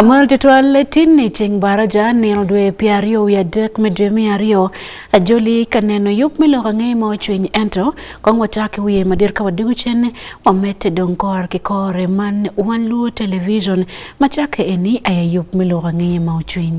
Amal tetwal tin ni ceng bara ja nino dwe pi aryo wi adek me dwe mi aryo ajoli ka neno yub me loko angeye ma ocwiny ento kong wacaki wiye madir ka wadigo cen wamete dong kor ki kore man wan luo television macake eni aya yub me loko angeye ma ocwiny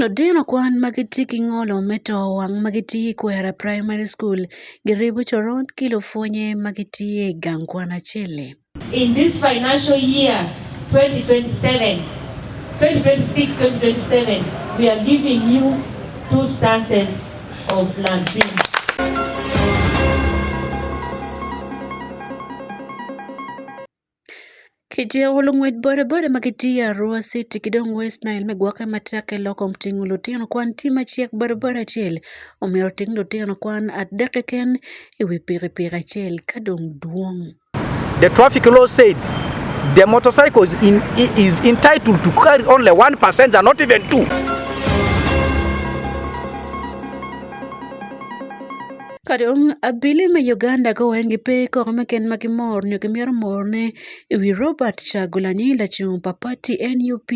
Lutino kwan ma gitye ki ngolo me to wang ma gitye i Kwena Primary School giribo coron ki lupwonye ma gitye i gang kwan acel-li. In this financial year 2027, 2026-2027, we are giving you two stances of Lampin. Ketii aol ngwech bore bore ma ketii e Arua city kidong west nile mi gwake matek ki lok kom tingo lutino kwan tye macek bore bore acel omyero oting lutino kwan adek keken i wi pikipiki acel ka dong dwong. The traffic law said the motorcycle is, in, is entitled to carry only one passenger, not even two. Kare dong abili me Uganda ko weng gipe koko me ken ma gimor nyo gimyero morne i wi Robert Chagulanyi lacung pa pati nup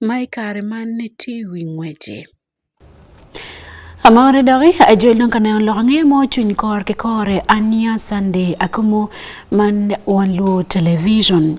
ma i kare man ni tye i wi ngwece. Amore doki ajol dong ka neno loko nge mo cwiny kor ki kore ania Sunday akumu man wan luo television.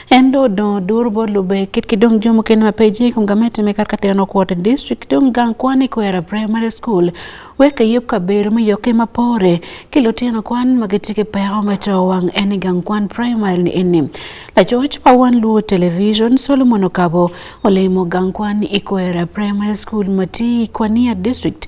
Endo do durbo lube kit kidong jomo ken ma peji kum gamete me karka teno kuota district dong gang kwani kwera primary school weka yep ka bero mi yoke ma pore kilo teno kwan ma gitike peo ma to wang eni gang kwan primary ni eni la george pa wan luo television solomon okabo olemo gang kwan ikwera primary school mati kwania district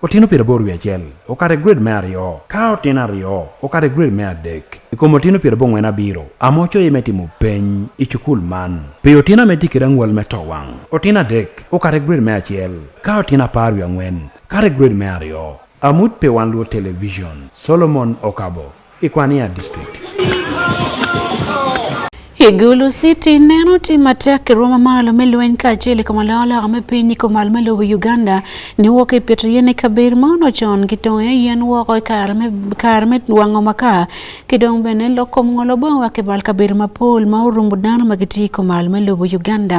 Otieno piero aboro wi achiel okare grade me ariyo ka otieno ariyo okare grade me adek ikomo otieno piero abong'wen abiro amocho ime timo peny i cukul man pe otieno ame tikira ng'wal me to wang' otieno adek okare grade me achiel ka otieno apar wi ang'wen kare grade me ariyo amut pe wan luo television solomon okabo Ikwania district. Igulu City neno tim matek e romo malo me lweny kaachiel e kamalaolaka me piny i komal me lobo Uganda ni wok e pieto yien e kabedo ma ono con ki tongo e yien woko e kare me kare me wango makaa ki dong bene loko ngolo bongo wa kibal kabedo mapol ma orumbo dano ma gitye i komal me lobo Uganda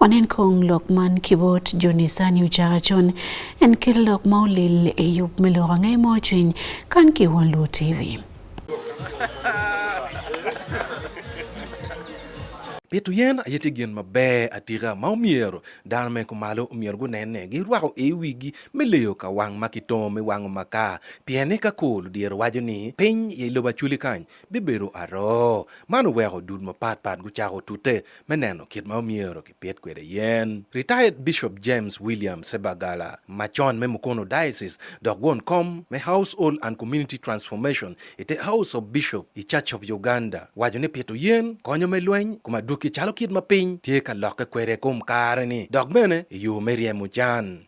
Wanen kong lok man kibot joni sani uchaga chon en kel lok ma olil e yup me loko ang'e mo cwiny kan ki won luo TV. Pito yen aye tye gin maber atika ma omyero dano me kumalo omyero gunenne girwako i wigi me leyo ka wang ma kitongo me wango makar pien ni ka kor ludyere waco ni piny i lobo acwali kany bibedo aroo. Man oweko dul mapatpat gucako tute me neno kit ma omyero kipit kwede yen. Retired Bishop James William Sebagala macon me Mukono Diocese dok won kom me Household and Community Transformation i te House of Bishop i Church of Uganda waco ni pito yen konyo me lweny kom adwoki calo kit ma piny tye ka lokke kwede kom kare-ni dok bene i yo me ryemo can.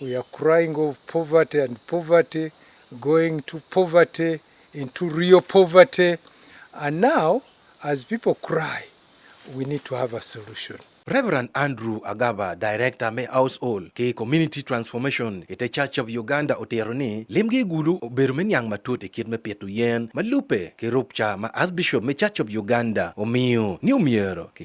We are crying of poverty and poverty, going to poverty, into real poverty. And now, as people cry, we need to have a solution. Reverend Andrew Agaba, Director me Household ki Community Transformation ite e Church of Uganda otero ni limgi gulu obedo me niang matut e kit me pito yen ma lupe ki rupca ma Archbishop me Church of Uganda omiyo ni omyero ki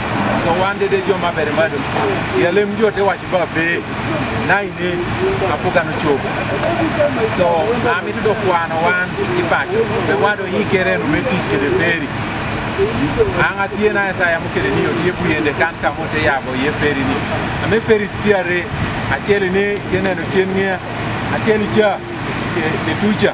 So one day they jump up at the madam. Yeah, let me do it. Watch about pay. Nine day, I put on a choke. So I'm into the one one. In fact, the one who he can and we teach the ferry. Anga tie na esa ya mukere ni otie bu yende kan ka mote ya bo ye ferry ni. Ame ferry siare. Atiele ni tiene no chenye. Atiele cha. Tetucha.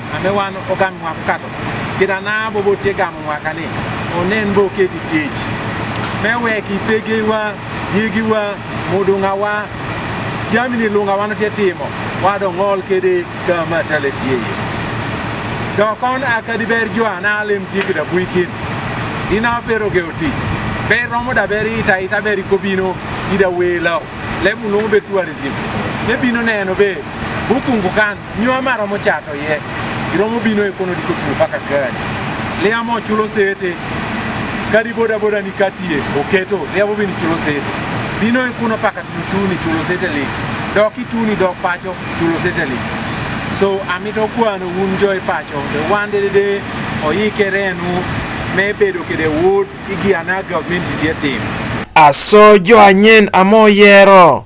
Ane wan ogamwa kato kit ana bobo tye gamo mwaka ni onen bo keti tic me wek ipegewa yigiwa mudungawa jami ni lunga wan tye timo wado ngol kede ka ma tale tye ye dok on akadi ber jo ana alem tye kida buikin ina pero ge oti ber romo da ber ita ita ber ikobino ida welo lemu lungu be tourism ne bino neno be bukungu kan Nywa mara mochato ye. Iromo bino e kono diko tulo paka gani. Lea mo chulo sete. Kadi boda boda ni katie oketo. Lea bobini chulo sete. Bino e kono paka tutuni chulo sete li. Dok ituni dok pacho chulo sete li. So amito kwano un joy pacho. The one day day oyike renu me bedo kede wood igi anaga minti tie tim. Aso jo anyen amoyero.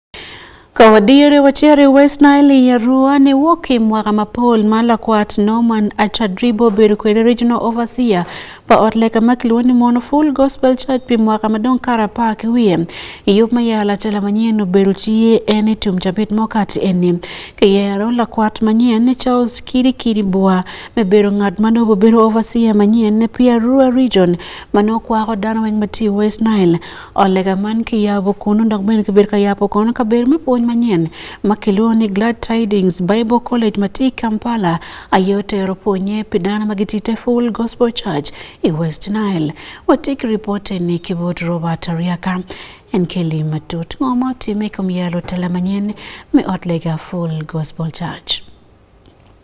Kawadiere wachere West Nile ya Rua ne wuok e mwaka ma Paul Malakwat Norman Achadribo bedo kwede Regional Overseer pa ot leka ma kilwongo ni Mono Full Gospel Church pi mwaka madong kara apar ki wiye. I yub ma yala tela manyien obedo tiye en i tum cabit mo kati eni. Kiyero lakwat manyien ni Charles Kiri Kiri Bua me bedo ngat ma nobo bedo Overseer manyien ne pi Arua Region ma nokwako dano weng ma ti West Nile. Olega man kiyabo kuno dok bende kiber kayabo kono kaber me puonj manyien ma kiluwo ni Glad Tidings Bible College ma ti Kampala ayo tero puonye pi dano ma giti te Full Gospel Church i West Nile. Watik ripote ni kibot Robert Ariaka en keli matut ng'oma otime kom yalo tela manyien me ot lega Full Gospel Church.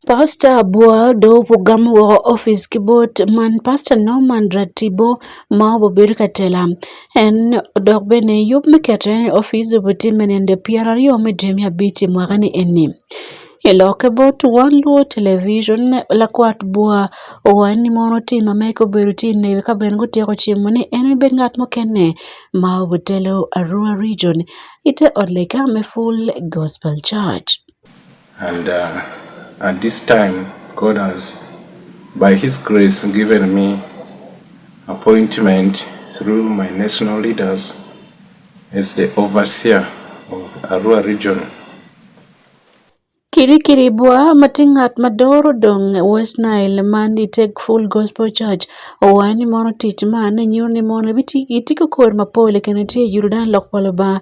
Pastor Abua do pugam wo office kibot man Pastor Norman Ratibo ma obobir katela en dok bene yub me kete ni office obuti menende piero ariyo me dwe mia abich e mwaka ni eni iloke bot wan luo television lakwat bua owacho ni mon otim ameka obedo ti ne ka ben gutieko chiemo ni en bed ngat mokene ma obutelo Arua region ite od leka me full gospel church And uh, at this time, God has, by His grace, given me appointment through my national leaders as the overseer of Arua region. Kirikiri bwa matingat madoro dong West Nile man i Take Full Gospel Church owaye ni mono tic man nyuto ni mono itiko kor mapol kene tye i Yurdan lok pa Lubanga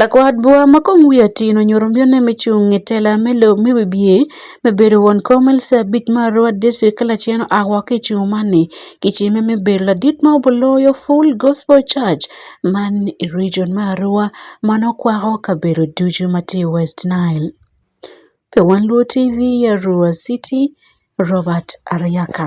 Lakwadwa ma kom wiye tin onyuoro mbiyone michung' e tela me lo me wibye me bedo won kom Elsabit bit mar Rwat District Kalacheno Agwa ki cung mani ki cime me bedo ladit ma obuloyo Full Gospel Church man i region me Arua ma nongo kwako kabedo ducu ma tye i West Nile. Pi Wan Luo TV i Arua City, Robert Aryaka.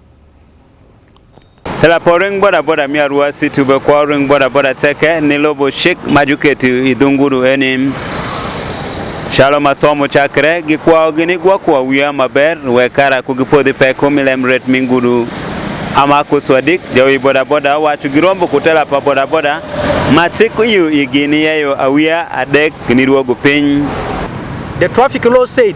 Ela po ring boda boda mi arua si tube kwa ring boda boda teke ni lobo shik majuketi idunguru enim. Shalo masomo chakre gi kwa ogini gwa kwa wiya maber we kara kugi podhi peko milem ret minguru. Ama kuswadik jawi boda boda wacho girombo kutela pa boda boda ma chik yu igini yeyo awiya adek ni ruogo piny. The traffic law said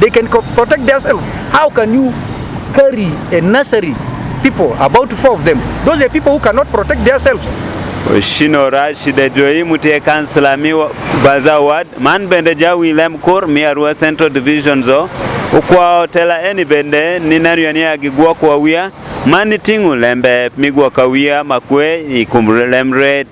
They can co- protect themselves. How can you carry a nursery people, about four of them? Those are people who cannot protect themselves. Shino Rashid Joimu te kansla mi baza ward man bende jawi lem kur mi arua central division zo ukwa otela eni bende ni nariyo ni agigwa kwa wia mani tingu lembe migwa kawia makwe ikumre lemre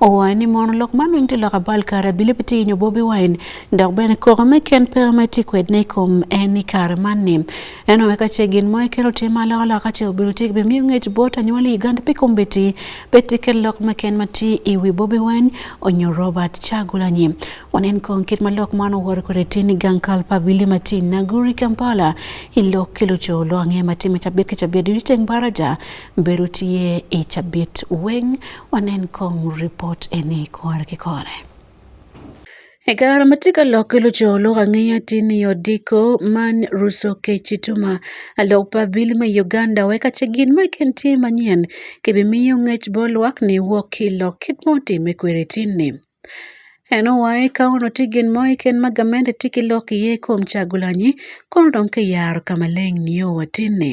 Owacho ni mono lok man weng' tilok abal kare bile piti inyo Bobi Wine dok bene koko me ken pera me ti kwed ne kom en i kare man ni. En owe ka ce gin mo i kero te ma loko loko ka ce obiro ti bi miyo ngec bot anywali i Uganda pi kom beti beti ken lok me ken ma ti i wi Bobi Wine onyo Robert Chagulanyi. Wanen kong kit ma lok man owor kore ti ni gang kal pa bile ma ti Naguri Kampala i lok kilo co lo ange ma ti me cabit ki cabit di teng baraja beru tiye i cabit weng Wanen kong report eni kor ki kore. E kare ma tye ka lok ki lucolok angeya tye ni odiko man ruso keci tuma alok pa bil me Uganda wek ace gin ma ken tye manyen kibimiyo ngec bo lwak ni wok ki lok kit mo time kweri tin ni. En owaye ka ono tye gin mo ken ma gamente tye ki lok iye kom cagulanyi kono dong ki yaro ka maleng nio watin ni.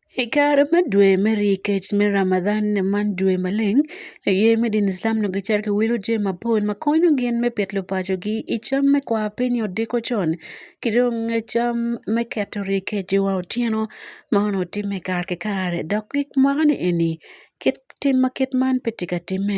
I kare me dwe me ryekec me Ramadan man dwe maleng aye me dini Islam onongo gicito ki wilo jami mapol ma konyo gin me pito lupacogi i cam me kwar piny i odiko con ki dong cam me keto ryekec i wa otyeno ma onongo timme kare ki kare dok gik mwaka ni eni kit tim ma kit man pe tye ka timme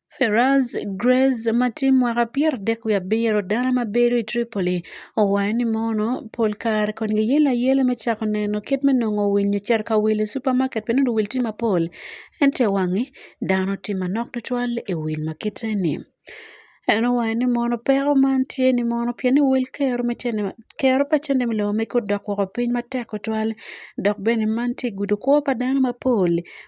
Feraz Grez ma tim mwaka pier adek wiye abiro dala ma bedo i Tripoli owayo ni mono pol kare kon giyelo ayela me cako neno kit me nongo wil nyo cito ka wil i supamaket pi nongo wil tye mapol ento i wange dano tye manok tutwal i wil ma kite-ni. En owayo ni mono peko man tye ni mono pien ni wel kero me cene kero pa cene me lobo mege odok woko piny matek tutwal dok bene man tye gudo kwo pa dano mapol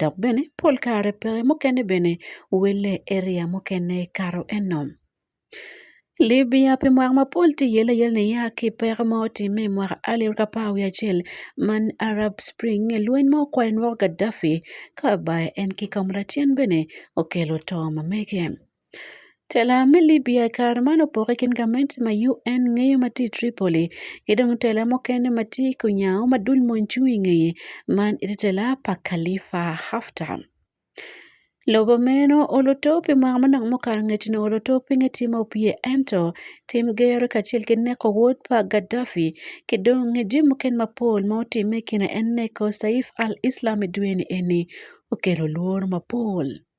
dok bene pol kare peke mukene bene welle area mukene kato eno Libya pi mwaka mapol tye yele yele ni ya ki peko ma otimme i mwaka alip ki apar wiye acel man Arab Spring lweny ma okwayo nwo Gaddafi ka ba en ki Kamalatin bene okelo to ma mege. Tela me Libya kare man opoke kin gament ma UN ngeyo mati Tripoli kidong tela mokene mati kunyaw madul monchungi ngeye man iti tela pa Khalifa Haftar. Lobo meno olo top i mwaka manok mukato ngecino olo top pinge tye ma opye ento tim gero kacel ki neko wod pa Gaddafi ki dong nge jami mukene mapol ma otimme i kine en neko Saif al-Islam i dweni eni okelo lworo mapol.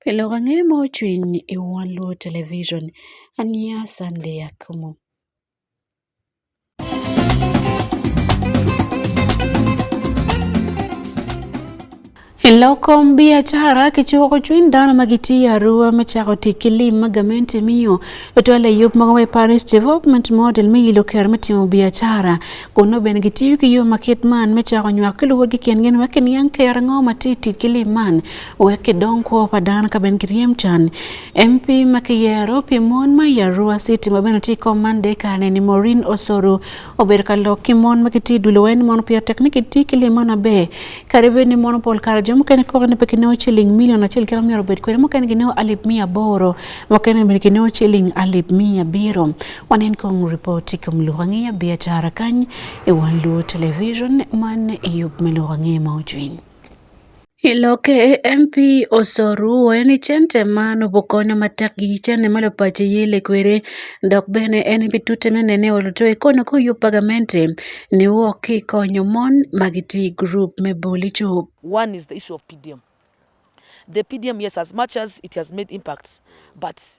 Pile wang'e ma ochwiny e wang' luo television. An ya Sunday Akumu. Iloko biacara kichiwo ko chuny dano ma gitiyo arua me chako tic ki lim ma gamente miyo otwal e yub mogo me Paris Development Model me yilo ker me timo biacara kun nongo bene gitiyo ki yo ma kit man me chako nywak ki luwegi kingi ma kiniang ker ango ma tye tic ki lim man wek idong kuo padan ka ben kiriem chan MP makiyero pi mon ma yarua city ma beno ti komande kane ni Maureen Osoro ober ka lok ki mon ma kiti dulo wen mon pier teknik ti ki limon abe kare be ni mon pol kare jo mukene kok ni pekine o chiling milion achiel kira miero bed kwere mukene gine o alip mia boro mukene be gine o chiling alip mia biro wanen kong ripoti kom luhangiya biachara kany e wan luo television man e yup me luhangiya ma ojwiny Iloke MP Osoru wayo ni cente ma nobo konyo matek gi cene malo pache yele kwere dok bene en bi tute mene ne olo to ikono ko yo pagamente ne wo ki konyo mon magiti group me boli chup. One is the issue of PDM. The PDM, yes, as much as it has made impact, but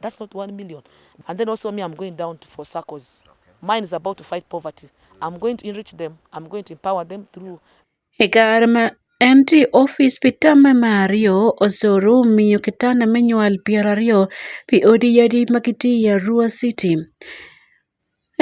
That's not one million. And then also me, I'm going down for circles. Mine is about to fight poverty. I'm going to enrich them. I'm going to empower them through. Egarma Enti ofis pi tamme me aryo osuru miyo kitanda me nywal pyeraryo pi odi yadi ma gitye i Arua City.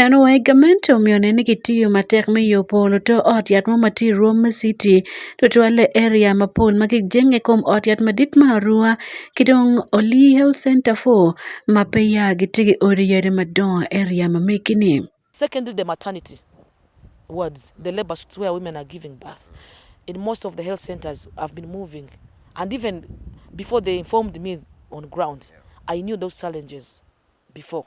En owaye gamente omiyo ne ni kitiyo matek me yo polo to ot yat mo mati rwom me siti to twale area mapol ma kik jenge kom ot yat madit ma arua ki dong oli health center fo ma pe ya giti ki odi yadi madongo area ma megi-ni. Secondly, the maternity wards, the labor suits where women are giving birth in most of the health centers have been moving. And even before they informed me on ground, I knew those challenges before.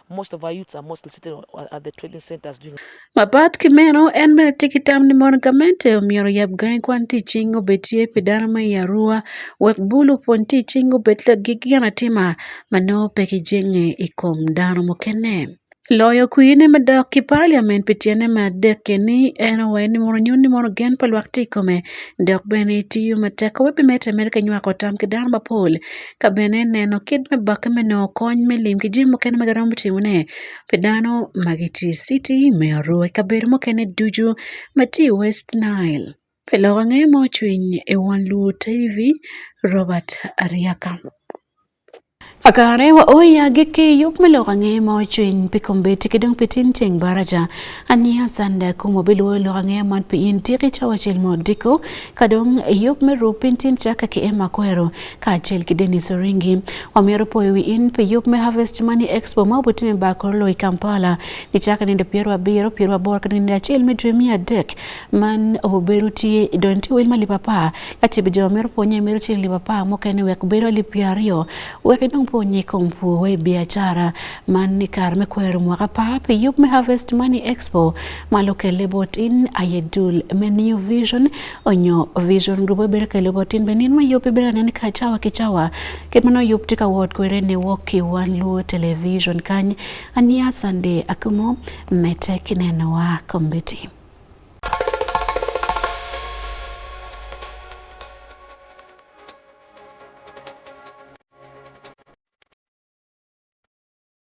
most of our youths are mostly sitting at the trading centers doing Mapat Kimeno en bende tiki tam ni mon gamente omiyo yab gae kwan ti chingo betie pidana ma yarua wek bulu pon ti chingo betle gi gana tima mano peki jenge ikom dano mukene Loyo kwine madok ki parliament pi tyene me adek keni en owai ni mono nyun ni mono gen pa lwak ti kome dok bene tiyo matek wek bimete mere ka nywako tam ki dano mapol ka bene ineno kit me bokke me nongo kony me lim ki jami mukene ma giromo timone pi dano ma gitye i citi me Arua i kabedo mukene ducu ma tye i West Nile. Pi lok ange ma ocwiny i wang Luo TV, Robert Aryaka. Kakare wa o i agikki yub me lok ange ma ocwiny pi kombeddi ki dong pi tin ceng baraja aniya sanda kum wabiluwo lok ange man pi in tiki cawa cel ma odiko ka dong yub me rub piny tin caka ki ema kwero kaachiel gi Dennis Oringi. Omiyo rupoyo wi in pe yup me Harvest Money Expo ma obutime ba kor loyi Kampala ni chaka nindo piero abiro piero aboro kata nindo achiel midre mia adek man oboberu tie idon ti wil malipa pa kati bi joma mero ponye mero tie lipa pa mokene wek biro li piero ariyo wek idong ponye kompu we biashara man ni kar me kwero mwaka pa pe yup me Harvest Money Expo malo kele bot in ayedul me New Vision onyo vision rubo bere ka lobo tin benin ma yope bere nen ka chawa ki chawa ket mano yop tika wot kwere ne woki wan luo television kany ania sande akumo mete kineno wa kombiti